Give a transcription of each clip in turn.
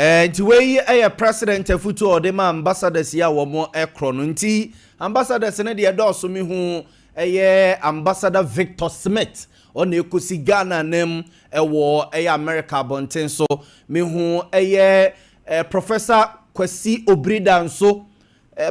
Eh, nti wei yɛ president afutu a ɔde ma ambassadors yi a wɔn korɔ no nti ambassadors no deɛ dɔɔso mi ho ɛyɛ ambassador Victor Smith ɔna ekosi Ghana nam ɛwɔ ɛyɛ America abɔnten so mi ho ɛyɛ eh, Professor Kwasi Obrida nso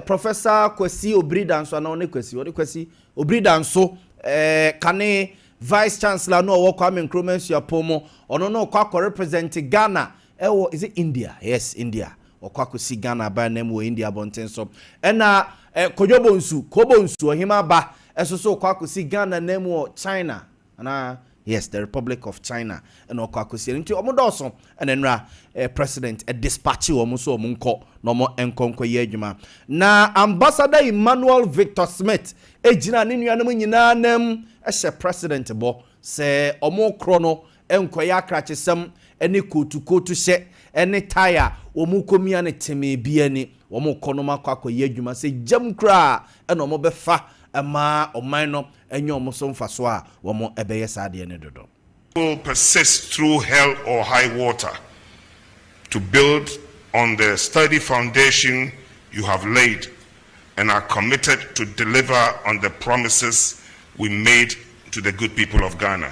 Professor Kwasi Obiri Danso anaa ɔne Kwasi? Ɔne Kwasi Obiri Danso eh, kane Vice Chancellor no ɔwɔ Kwame Nkrumah Nsuapɔn mu. Ɔno no ɔkɔ akɔ represent Ghana ɛwɔ is it India? Yes, India. Ɔkɔ akɔsi Ghana aban nan mu wɔ India abɔnten so. Ɛna eh, Kodwo Bonsu, Ko Bonsu, ɔhema ba ɛso so ɔkɔ akɔsi Ghana nan mu wɔ China. Anaa? Yes, the Republic of China na ɔkɔ akɔsie no. Nti wɔn dɔɔso na nnora eh, president dispatche wɔn so wɔn nkɔ na wɔn nkɔ nkɔyɛ adwuma. Na ambassador Emmanuel Victor Smith gyina ne nuanom nyinaa nam hyɛ president bɔ sɛ wɔn korɔ no nkɔyɛ akrakyesɛm ne kootu kootu hyɛ ne tae a wɔn kɔmia no temee bi ani. Wɔkɔ no akɔ akɔyɛ adwuma sɛ gyam koraa na wɔbɛfa ma ɔman no anya wɔn so mfasoɔ a, wɔbɛyɛ saa adeɛ no dodo. Will persist through hell or high water to build on the sturdy foundation you have laid and are committed to deliver on the promises we made to the good people of Ghana.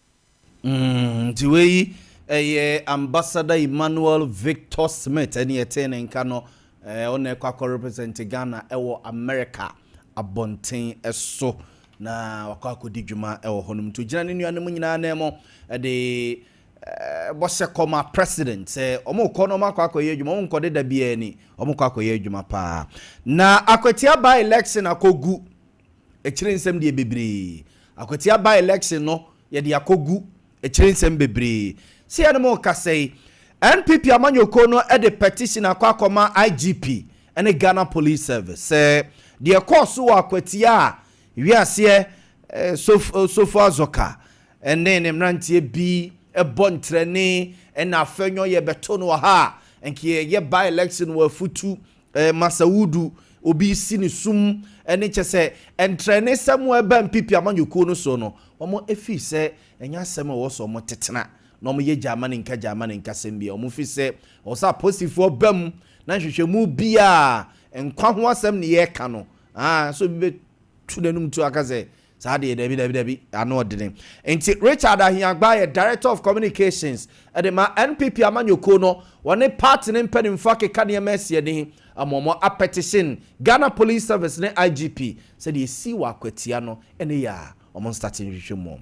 Mm, nti wei yi ɛyɛ Ambassador Emmanuel Victor Smith ɛne ɛtee ne nka no ɛɛ ɔna ɛkɔ akɔ represent Ghana ɛwɔ America abɔnten ɛso na wakɔ akɔdi dwuma ɛwɔ hɔ nom nti ogyina ne nua no mu nyinaa nan mu ɛde ɛɛ bɔhyɛ kɔ ma president sɛ wɔn kɔ na wɔn akɔ akɔyɛ adwuma wɔn nkɔde da biara ni wɔn kɔ akɔyɛ adwuma paa na akwatia by election akɔgu Akyire nsɛm deɛ bebree. Akwatia by election no yɛde akɔ gu akyire nsɛm bebree. Sɛ yɛne mo rekasa yi, NPP amanyɔkuo no de petition akɔ akɔma IGP ne Ghana Police Service sɛ deɛ ɛkɔɔ so wɔ Akwatia a wiaseɛ sofo Azoka ne ne mmeranteɛ bi bɔ ntrɛne na afɛnwɔn yɛbɛto no wɔ ha a nka yɛyɛ by election wɔ afutu Eh, masa wudu, obi si ne sum ɛne kyɛ sɛ ntrɛne sɛ mo ɛba mpipi amanyɔkuo no soɔ no wɔn ɛfiri sɛ ɛnyɛ asɛm a ɛwɔ sɛ wɔn tetena na wɔn yɛ gyaama ne nka gyaama ne nka sɛm biara wɔn firi sɛ ɛwɔ sɛ aposifoɔ ba mu na nhwehwɛmu biara nkwa ho asɛm ne yɛka no ah sɛ obi bɛ tu n'anum tu aka sɛ Saa deɛ dabi dabi dabi ano ɔdene. Nti Richard Ahiagba yɛ Director of Communications de ma NPP amanyɔkuo no, wɔne party no mpanimfoɔ akeka nneɛma asi ani ama wɔn apetition Ghana Police Service ne IGP sɛ deɛ ɛsii wɔ akwatia no ne yɛ a wɔn nstate nhwehwɛ mu wɔn.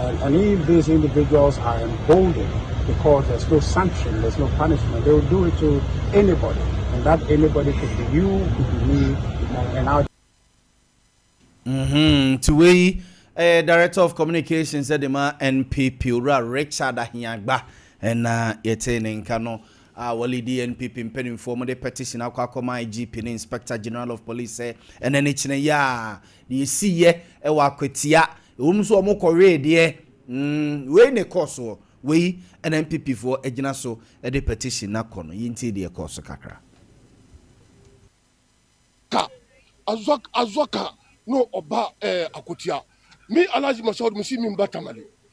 and and if these individuals are emboldened because there's no sanction there's no punishment they will do it to anybody and that anybody could be you could be me and, and our Mm-hmm. Nti wei ɛyɛ eh, Director of Communications sɛ de ma NPP owura Richard Ahiagba ɛna yɛte ne nka no a wɔle di NPP mpanimfoɔ mo de petition akɔ akɔma IGP ne Inspector General of Police sɛ ɛna ne kyinɛ yɛ a Deɛ ɛsiiɛ wɔ Akwatia, ɛwom sɛ wɔkɔwee deɛ, mm, wei na ɛkɔɔ soɔ. Wei na NPP foɔ agyina so de petition no akɔ no. Yɛntie deɛ ɛkɔɔ so kakra. Ka azwa azwa ka no ɔba ɛɛ Akwatia. Me Alhaji Masoud mesi me mba Tamale.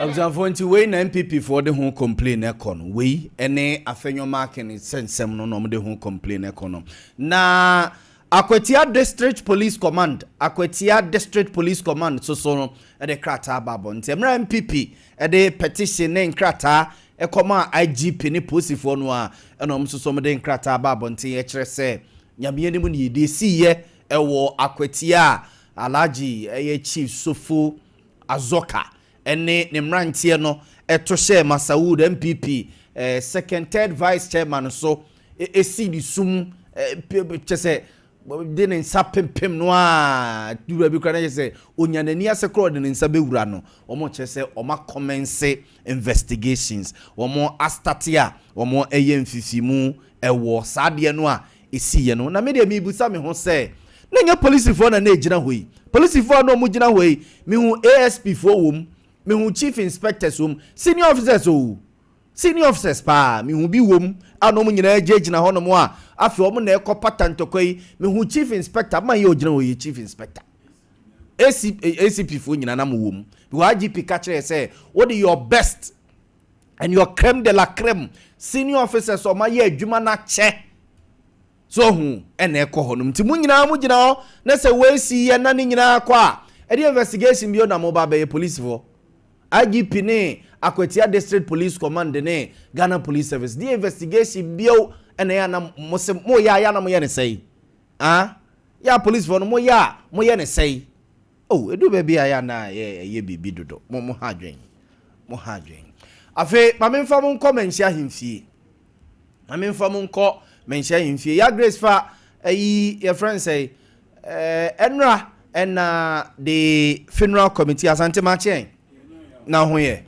abusuafoɔ nti wei na npp foɔ de ho complain ɛkɔ no wei ɛne afɛnyɔ marking sɛnsɛm no na wɔn de ho complain ɛkɔ no na. Akwatia District Police Command, Akwatia District Police Command, nso so no de krataa baa abɔnten mmerɛ a NPP de petition ne nkrataa kɔmaa IGP ne Polisifoɔ no ara na wɔn nso so wɔde nkrataa baa abɔnten ɛkyerɛ sɛ Nyame anim na yɛdi ɛsiiɛ ɛwɔ Akwatia a Alhaji ɛyɛ Chief Sofo Azoka ne ne mmeranteɛ no to hyɛɛ Masaud, NPP, second, third vice chairman so sii ne su mu, kyɛ sɛ de ne nsa pempem no a duru baabi koraa na kyɛ sɛ onya n'ani ase koraa ɔde ne nsa bɛwura no wɔn kyerɛ sɛ wɔn akɔmɛnse investigations wɔn astate a wɔn ɛyɛ mfifimu ɛwɔ saa adeɛ no a ɛsiiɛ no, na me deɛ merebisa me ho sɛ, na ɛnyɛ polisifoɔ na na ɛgyina hɔ yi? Polisifoɔ a na wɔgyina hɔ yi, mehu ASPfoɔ wɔ mu, mehu Chief Inspectors wɔ mu, Senior Officers oo, Senior Officers pa ara, mehu bi wɔ mu a na wɔn nyinaa gyinagyina hɔnom a afei wɔn na ɛrekɔpata ntɔkwa yi, mehu Chief Inspector, man yi a ɔgyina hɔ yi yɛ Chief Inspector. ACPfoɔ nyinaa na mowɔ mu, because IGP ka kyerɛɛ sɛ, wode your best. and your creme de la creme senior officers ɔma yɛ adwuma no akyɛ so ɔhu ɛna ɛkɔ hɔ nom nti mo nyinaa mo gyina hɔ na sɛ wɔasi yɛ na ne nyinaa kɔ a ɛde investigation bio na mo ba bɛyɛ policefoɔ IGP ne Akwatia District Police Command ne Ghana Police Service deɛ investigation bio ɛna yɛ anam mo se mo yɛ a yɛ anam yɛ ne sɛi ah yɛ a policefoɔ no mo yɛ a mo yɛ ne sɛi Oh, edu baabi a ɛyɛ a na yɛ ɛyɛ biribi dodo. Mo mo ha adwen. Mo ha adwen. Afei, ma me nfa mo nkɔ Manhyia Ahemfie. Ma me nfa mo nkɔ Manhyia Ahemfie. Ya Grace fa ɛyi yɛ friend sɛ eh, ɛnra ɛna de funeral committee asante ma kyɛn na ho yɛ.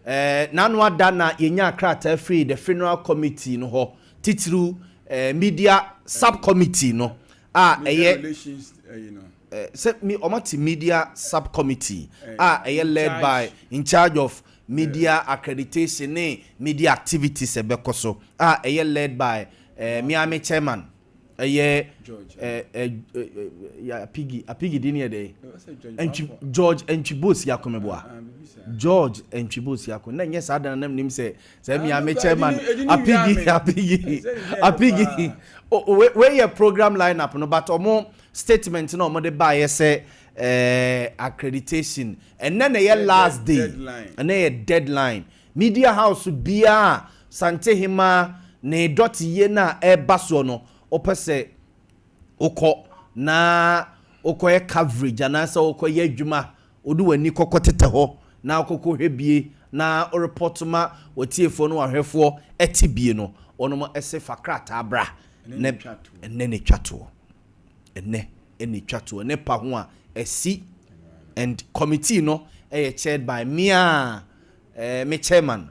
Eh, n'ano ada na yɛnya krataa firi the funeral committee no hɔ titiriw eh, media subcommittee no a ɛyɛ. sɛ wɔate Media Sub-Committee a ɛyɛ led by in charge of Media Accreditation ne Media Activities a ɛbɛkɔ so a ɛyɛ led by mea me chairman ɛyɛ Apigi Apigi din yɛ dɛn George Antwibos Yakomeboa George Antwibos Yakom na nyɛ saa dan nam nim sɛ sɛ mea me chairman Apigi Apigi Apigi wei yɛ program line up no but ɔmo Statement na wɔde baeɛ sɛ eh, accreditation, ɛnɛ na ɛyɛ last day, ɛnɛ yɛ deadline. Media house biara a Santehemaa ne dɔteyɛ no a ɛreba soɔ no, wopɛ sɛ wokɔ na wokɔyɛ coverage anaasɛ wokɔyɛ adwuma Wode w'ani kɔ kɔtetɛ hɔ na wokɔkɔ hwɛ bie na wo report ma w'atiefoɔ ne w'ahwɛfoɔ te bie no, wɔnom se fa krataa bra na ɛnnɛ na ɛtwa toɔ, ɛnnɛ na ɛtwa toɔ, ne pa ho a asi and committee no yɛ chaired by me a me chairman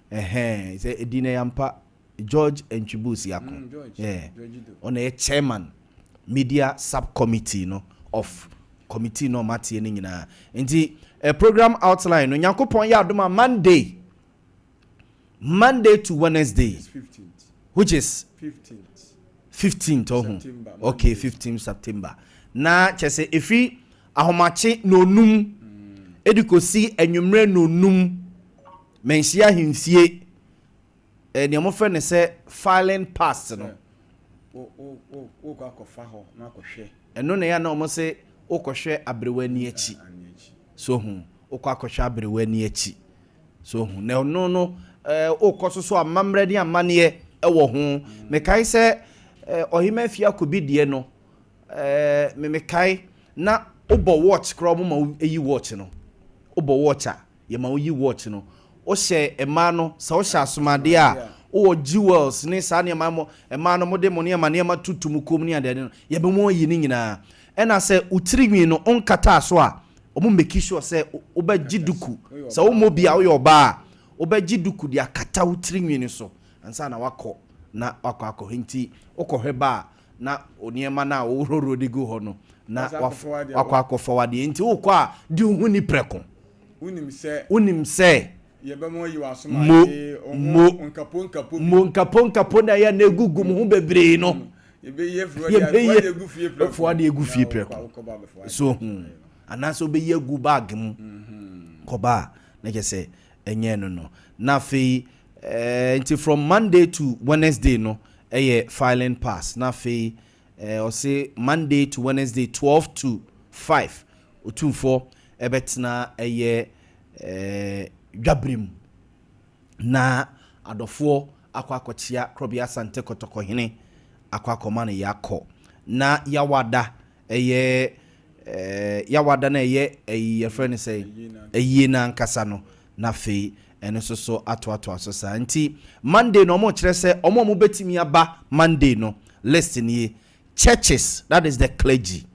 Ɛhɛɛn sɛ ɛdin no yɛ ampa George Antwibus Yako mm, George, yeah. George do. Ɔna yɛ chairman media subcommittee no of committee no ɔmateɛ no nyinaa nti eh, program outline no nyankopɔn yɛ adom a Monday Monday to Wednesday which is 15th 15th ɔho okay 15 September na kyɛ sɛ ɛfiri ahomakye na onum ɛde kɔsi anwummerɛ na onum Manhyia ahemfie eh, nea wɔfrɛ no sɛ filing past no. Wokɔ akɔfa hɔ na akɔhwɛ. Ɛno na ɛyɛ na wɔn se wokɔhwɛ aberewa ani akyi. So ho, wokɔ akɔhwɛ aberewa ani akyi. So ho, na ɛno no eh, wokɔ so so amammerɛ ne amanneɛ ɛwɔ ho. Mekae sɛ eh, ɔhema afie akobi deɛ no, eh, me mekae na wobɔ watch koraa wɔn ma eyi watch no. Wobɔ watch a. Yɛma woyi watch no. Wohyɛ mmaa no, sɛ wohyɛ asomadeɛ a, wowɔ jewels ne saa nneɛma mo, mmaa no mode mo nneɛma nneɛma tutu mo kɔn mu ne adeade no, yɛbɛma wɔayi ne nyinaa. Ɛna sɛ wo tiri nwi no, wonkataa so a, wɔn make sure sɛ wobɛgye duku. Sɛ wommɔ bi a, woyɛ ɔbaa a, wobɛgye duku de akata wo tiri nwi no so ansa na woakɔ na woakɔ akɔhwɛ. Nti wokɔhwɛ ba a, na nneɛma no a woworɔworɔ de gu hɔ no, na wakɔ akɔfɔw adeɛ. Enti wokɔ a, di wo ho ni prɛko. Wonim sɛ mo, mo, mo nkaponkapo no a ɛyɛ na egugu mo ho bebree no, yɛbɛyi fɔw adeɛ agu fie prɛko. So ohun? Anaasɛ wobɛyi agu baage mu kɔba a, na kyerɛ sɛ ɛnyɛɛ no no na afei ɛɛ nti from Monday to Wednesday no ɛyɛ filing pass na afei ɛɛ ɔse Monday to Wednesday twelve to five otumfoɔ ɛbɛtena ɛyɛ ɛɛ dwabere mu na adɔfoɔ akɔ akɔkyea Krɔbea Asante Kɔtɔkɔhene akɔ akɔma no yɛakɔ na yawada ɛyɛ yawada no a ɛyɛ ayi yɛfrɛ no sɛ ayie no ankasa no na afei ɛno nso so atoatoa so saa nti Monday no wɔn kyerɛ sɛ wɔn a wɔn bɛtumi aba Monday no list nie churches that is the clergy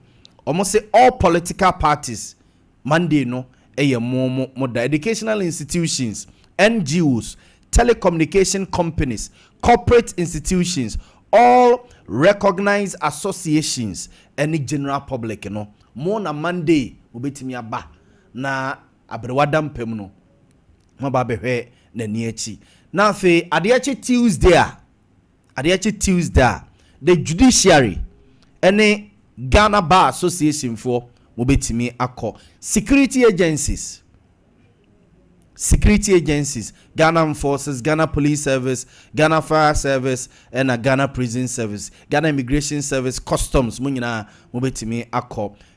wɔn se all political parties Monday no yɛ mo mo mo da. Educational institutions, NGOs, telecommunication companies, corporate institutions, all recognised associations ne general public no, mo na Monday mobɛtumi aba na aberewa da mpa mu no, moaba abɛhwɛ n'ani akyi. Na afei adeɛ kye Tuesday a, Adeɛ kye Tuesday a, The Judiciary ne Ghana Bar Association foɔ wɔbɛtumi akɔ. Security agencies Security agencies, Ghana Armed Forces, Ghana Police Service, Ghana Fire Service ɛna Ghana Prison Service, Ghana Immigration Service, Customs mo nyinaa mobɛtumi akɔ.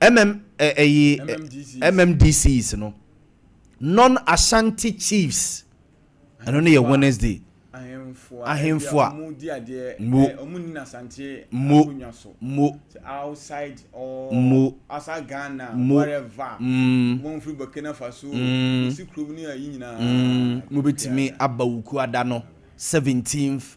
MM, eh, ɛyi, eh, MMDCs no, non-Ashanti chiefs, ɛno no yɛ Wednesday. ahemfo a mo mo mo outside or mo outside Ghana mo, whatever mm, wɔn firi Burkina Faso mm, wɔsi kurom ne ayi nyinaa mm, mobɛtumi aba wuku ada no 17th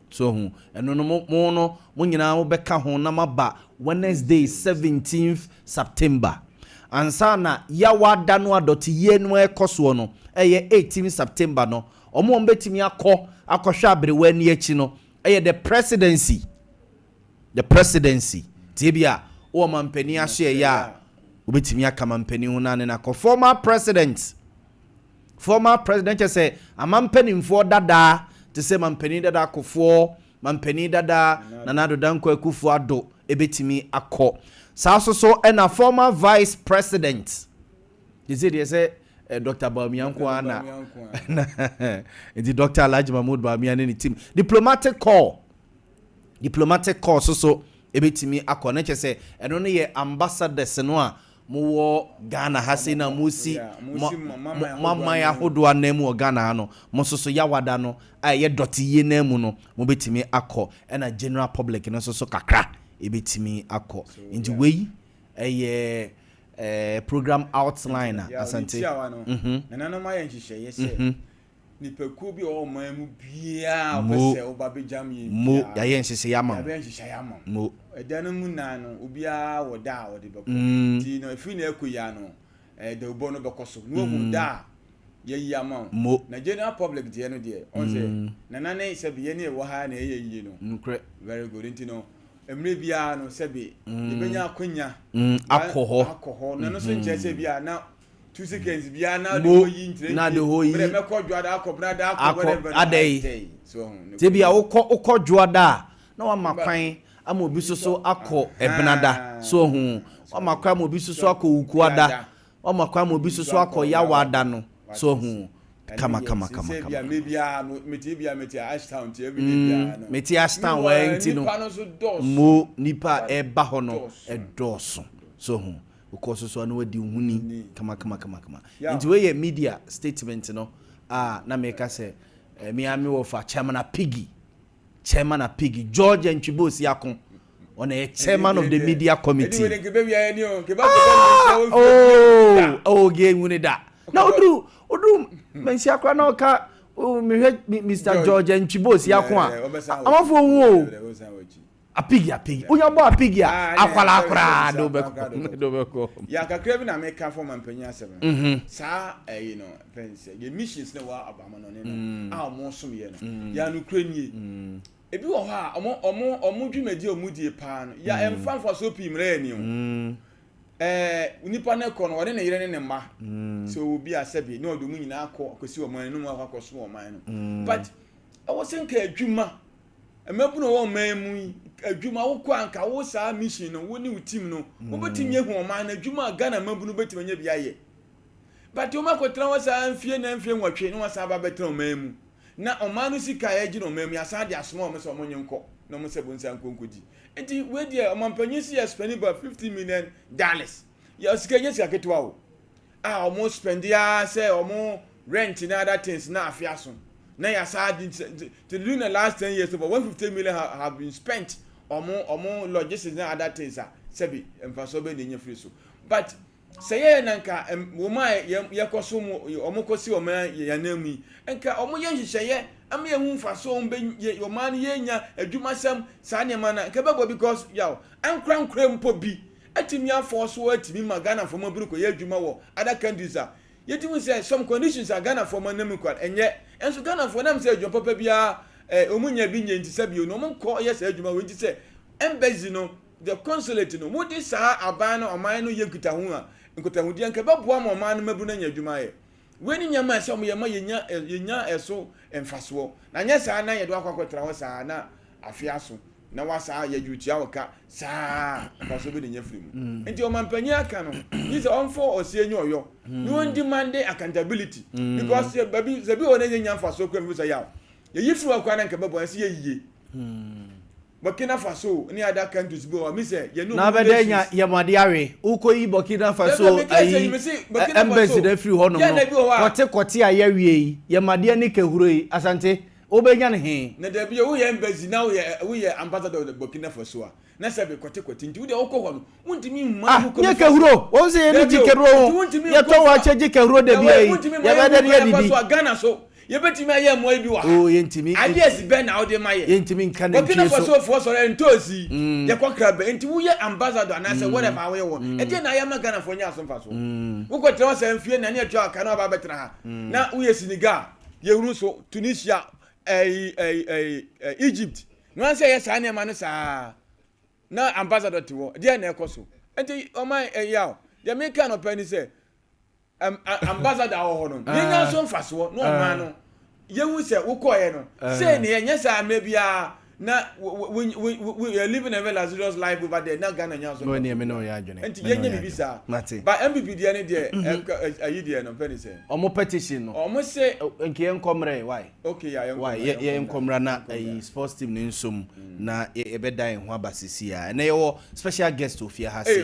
So wahu? Ɛno no, mo, mo no, mo nyinaa mobɛka ho na moaba Wednesday, seventeenth September. Ansa na Yawa da no a dɔteyie no rekɔ soɔ no, ɛyɛ eighteenth September no, wɔn a wɔbɛtumi akɔ akɔhwɛ aberewa ani akyi no yɛ The Presidency. The Presidency. Nti ebia wowɔ mampanin ahyeɛeɛ a, wobɛtumi aka mampanin ho na ne no akɔ. Former President. Former President kyɛ sɛ Ama mpaninfoɔ dadaa te sɛ Mampanin dada Akofoɔ, Mampanin dada Nana Addo Dankwa Akuffo Addo ɛbɛtumi akɔ. Saa so so na Former Vice President, gye sɛ deɛ sɛ Doctor Bawumia nko ara na na nti Doctor Alhaji Mahmood Bawumia ne ne team. Diplomatic Corps, Diplomatic Corps so so ɛbɛtumi akɔ. Na kyɛ sɛ ɛno no yɛ Ambassadors no a Mowɔ Ghana ha sei na moresi mo mo aman ahodoɔ anan mu wɔ Ghana ha no, mo nso so Yawada no a ɛyɛ dɔte yie no ara mu no, mobɛtumi akɔ. Ɛna General Public no nso so kakra ɛbɛtumi akɔ. Nti wei ɛyɛ ɛɛ program outline a Asante. Nti a wɔn no, nananom ayɛ nhyehyɛeɛ sɛ Nnipakuo bi a wɔwɔ ɔman mu biara a wɔpɛ sɛ wɔba bɛgyam yɛn biara. Mo yɛayɛ nhyehyɛeɛ ama mo. Yɛabɛyɛ nhyehyɛeɛ ama mo. Ɛda no mu nan no, obiara wɔ da a ɔde bɛkɔ. Nti no, ɛfiri na ɛkɔ yi ara no, dawubɔ no bɛkɔ so. Na wɔahu da a yɛayi ama mo. Na general public deɛ no deɛ, ɔn sɛ, Nana ne sɛbe yɛn ne ɛwɔ ha na ɛyɛ yie no. Nokorɛ. Very good. Nti no, mmerɛ biara no, sɛbe yɛbɛnya akwanya. Akɔ hɔ. Akɔ hɔ. Na ɛno nso nkyerɛ sɛ bi a na. mo na de hɔ yi akɔ adɛn sɛ bia wokɔ wokɔ dwoada a na wama kwan ama obi soso akɔ ɛbenada so ho wama kwan ama obi soso akɔ wukuada wama kwan ama obi soso akɔ yawada no so ho kama kama kama kama mete ashtown wɔn nti no mo nipa ɛba hɔ no ɛdɔɔso so ho Wokɔ so so a na wadi wo ho ni kamakamakama. Nti wei yɛ media statement no a na meka sɛ me ara me wɔfa Chairman Apigi, Chairman Apigi, George Antwibo Osiako, ɔna yɛ Chairman of the Media Committee. Ah! Oh! Oh, gay nwuni da. Na oduru, oduru, mensi akora na ɔka mehwɛ Mr. George Antwibo Osiako a, amafo hu o. Apigi apigi. Wonya bɔ apigi a akwadaa koraa de wobɛkɔ de wobɛkɔ. Ya kakra bi na meka fɔ ma mpanyin asɛm no. Mhm. Saa ɛyi no fɛn sɛ yɛ missions na wɔ abamo no ne no mm. a wɔn som yɛ no. Mm. Ya no kura nie. Mm. Ebi wɔ hɔ a wɔn wɔn wɔn dwumadi a wɔn die paa no ya mm. mfa mfa so pii mmerɛ yɛ ni o. Mm. Ɛɛ nipa no kɔ no wɔne ne yere ne ne mma. Mm. Sɛ obi asɛ bi na ɔde wɔn nyinaa kɔ akɔsi wɔn anum akɔ akɔsom wɔn man no. Mm. But ɛwɔ sɛ nka adwuma. mmabunu a wɔwɔ ɔman mu yi adwuma wokɔ a nka wo saa mission no wo ne wo team no wobɛtumi ahu mm. ɔman no adwuma a Ghana mmabunu bɛtumi anya bi ayɛ but wɔn akɔtena hɔ saa mfie na mfie nwɔtwe na wɔsan aba bɛtena ɔman mu na ɔman no sika a yɛgye no ɔman mu yɛasan de asoma wɔn sɛ wɔn nye nkɔ na wɔn sɛ bonsa nkɔ nkɔgyi nti wei deɛ ɔmampanyin si yɛ spɛni ba fifty million dollars yɛ sika nyɛ sika ketewa o. a wɔn spɛndi ara sɛ wɔn rent ne other things na afe aso na yasa di nti during the last ten years over one fifty million ha have been spent wɔn wɔn logistics ne other things a sɛbi mfasoɔ bɛ na enya firi so but sɛ yɛyɛ na nka wɔn a yɛkɔ so mu wɔn kɔ si wɔn yɛn anan mu yi nka wɔn yɛ nhyehyɛeɛ ama yɛn ho mfasoɔ wɔn bɛ yɛ wɔn ano yɛ nya adwuma sɛm saa nneɛma na nka bɛbɔ because yaw ankorankora mpo bi. atumi afɔɔ so atumi ma Ghanafoɔ ma biri kɔ yɛ adwuma wɔ other countries a yɛtumi hu sɛ some conditions a Ghanafoɔ ma nam kwan ɛnyɛ nso Ghanafoɔ nam sɛ adwuma papa biara eh, wɔn nya bi nyɛ nti sɛbio no wɔn kɔ yɛ saa adwuma wɔ nti sɛ embassy no the consulate no wɔde saa aban no ɔman no yɛ nkitaho a nkitahodeɛ nka ɛbɛboa ma ɔman no mabunu anya adwuma ayɛ Wei ne nneɛma a ɛsɛ sɛ wɔyɛ ma yenya yenya ɛso mfasoɔ, na anyɛ saa na yɛde wo akɔ akɔtra hɔ saa na afe aso na woasa a, yɛgye wo tua wo ka saa a, mfasoɔ bɛn na enya firi mu? Nti ɔmampanyin aka no, gye sɛ ɔmfa ɔseɛ nyɛ ɔyɔ na ɔndimande accountability because sɛ baabi sɛ bi wɔ hɔ na yenya mfasoɔ koraa a mfiri mu sɛ yaw, yɛyi firi hɔ koraa na anka ɛbɛboa yɛn sɛ yɛn yiye. Burkina Faso ne ada kantos bi wɔ mi sɛ yɛ no. Na bɛ dɛ nya yɛ mo ade awe wo kɔ yi Burkina Faso ayi embassy na firi hɔ nom no kɔte kɔte a yɛ wie yi yɛ ma deɛ ne kɛhuro yi Asante wo bɛ nya ne he. Na dabi yɛ wo yɛ embassy na wo yɛ wo yɛ ambassador Burkina Faso a na sɛbi kɔte kɔte nti wo deɛ wo kɔ hɔ no Ah, nye kɛhuro wɔn sɛ yɛne gye kɛhuro ho yɛtɔ wɔ akyɛ gye kɛhuro da bia yi yɛbɛdɛ ne yɛdidi yɛbɛtumi ayɛ mmoa yi bi wɔ ha oh, yɛntumi ideas bɛn na wode ma yɛ yɛntumi nka ne ntwi so wɔkinafoɔ sɔrɔ ntoosi mm. yɛkɔ kra bɛ nti woyɛ ambassador anaasɛ mm. whatever woyɛ wɔ mm. ɛdeɛ na ayɛ ma ghanafoɔ nyɛ aso mfa so wokɔtena wɔ sɛ mfie na ne atua aka na waba abɛtena ha na woyɛ senegal yɛhunu so tunisia eh, eh, eh, egypt na wɔn sɛ yɛ saa nneɛma no saa Na ambassador te hɔ, deɛn na ɛkɔ so? Nti ɔman ɛyaw, deɛ meka anɔpa ni sɛ, ɛm, a, ambassador a ɔwɔ hɔ no, yɛnya nso mfasoɔ na ɔman no yɛhu sɛ wokɔeɛ no, sei ne yɛ, nyɛ saa mmerɛ biara na wo, wo, wo, wo, wo, wo you're living a very luxurious life over there, na Ghana nya nso No, ɛneɛ mfasoɔ me ne wo yɛ biara. adwene, Nti me ne wo yɛnyɛ yɛ biribi adwene. saa. Mate. But NPP deɛ ne deɛ, ɛka- ɛ- ayi deɛ no, mfɛ ne sɛ, Ɔmo petition no, ɔmo se, ɛ- nka yɛnkɔ mmerɛ, why? Why? Yɛ yɛ nkɔ mmra na ɛyi sports team ne nsom na yɛ yɛbɛda yɛn ho aba sisi a. Ɛnɛ yɛwɔ special guest wɔ fie ha sei.